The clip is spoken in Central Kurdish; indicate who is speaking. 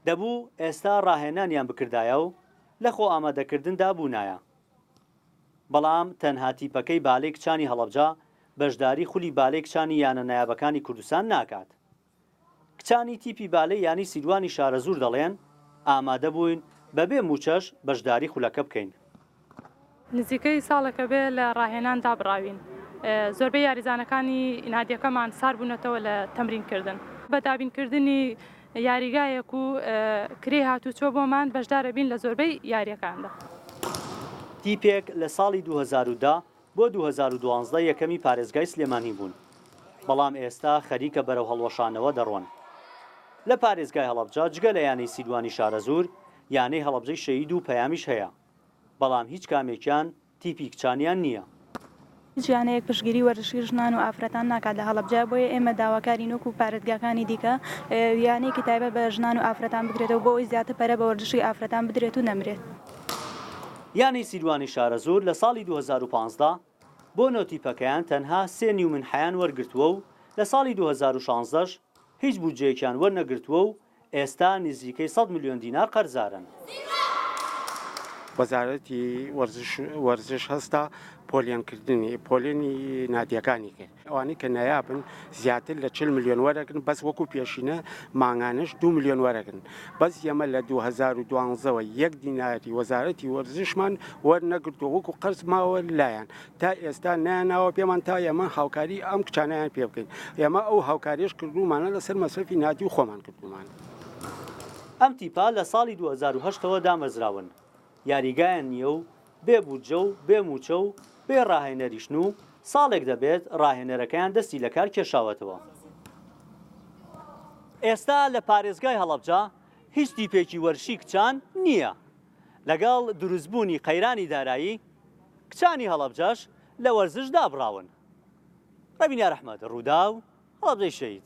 Speaker 1: دەبوو ئێستا ڕاهێنانیان بکردایە و لە خۆ ئامادەکردندا بوونایە، بەڵام تەنها تیپەکەی بالەی کچانی هەڵەبجە بەشداری خولی بالەی کچانی یانە نایابەکانی کوردستان ناکات. کچانی تیپی بالەی یانەی سیروانی شارەزوور دەڵێن، ئامادەبووین بەبێ مووچەش بەشداری خولەکە بکەین.
Speaker 2: نزیکەی ساڵێکە بێ لە ڕاهێنان دابڕاوین، زۆربەی یاریزانەکانی نادیەکەمان سارد بوونەتەوە لە تەمرین کردن، بە دابین کردنی یاریگایەک و کرێی هاتووچۆ بۆمان بەشدار ئەبین لە زۆربەی یاریەکاندا.
Speaker 1: تیپێک لە ساڵی دوو هەزار و دە بۆ دوو هەزار و دوازدە یەکەمی پارێزگای سلێمانی بوون، بەڵام ئێستا خەریکە بەرەو هەڵوەشانەوە دەڕۆن لە پارێزگای هەڵەبجە، جگە لە یانەی سیروانی شارەزوور یانەی هەڵەبجەی شەهید و پەیامیش هەیە. بەڵام هیچ کامێکیان تیپی کچانیان نییە. هیچ یانەیەک
Speaker 3: پشتگیری وەرزشی ژنان و ئافرەتان ناکات لە هەڵەبجە، بۆیە ئێمە داواکارین وەکو پارێزگاکانی دیکە یانەیەکی تایبەت بە ژنان و ئافرەتان بکرێتەوە بۆ ئەوەی زیاتر پەرە بە وەرزشی ئافرەتان بدرێت و نەمرێت.
Speaker 1: یانەی سیروانی شارەزوور لە ساڵی دوو هەزار و پازدە بۆ نۆ تیپەکەیان تەنها سێ نیو منحەیان وەرگرتووە و لە ساڵی دوو هەزار و شازدە ش هیچ بودجەیەکیان وەرنەگرتووە و ئێستا نزیکەی سەد ملیۆن دینار قەرزارن.
Speaker 4: وەزارەتی وەرزش هەستا پۆلێنکردنی پۆلێنی نادیەکانی کرد ئەوانەی کە نایابن زیاتر لە چل ملیۆن وەرەگرن بەس وەکو پێشینە مانگانەش دو ملیۆن وەرەگرن بەس یەمە لە دوو هەزار و دوانزەوە یەک دیناری وەزارەتی وەرزشمان وەرنەگرتووە وەکو قەرز ماوە لایان تا ئێستا نەیانناوە پێمان تا ئێمە هاوکاری ئەم کچانیان پێ بکەین ئێمە ئەو هاوکاریش کردومانە لەسەر مەسرفی ناتی و خۆمان کردومان.
Speaker 1: ئەم تیپە لە ساڵی دوو هەزار و هەشت ەوە دامەزراون، یاریگایان نییە و بێ بودجە و بێ مووچە و بێ راهێنەریشن و ساڵێک دەبێت راهێنەرەکەیان دەستی لە کار کێشاوەتەوە. ئێستا لە پارێزگای هەڵەبجە هیچ تیپێکی وەرشی کچان نییە. لەگەڵ دروستبوونی قەیرانی دارایی، کچانی هەڵەبجەش لە وەرزش دابڕاون. ڕەبینە ئەحمەد، ڕووداو، هەڵەبجەی شەهید.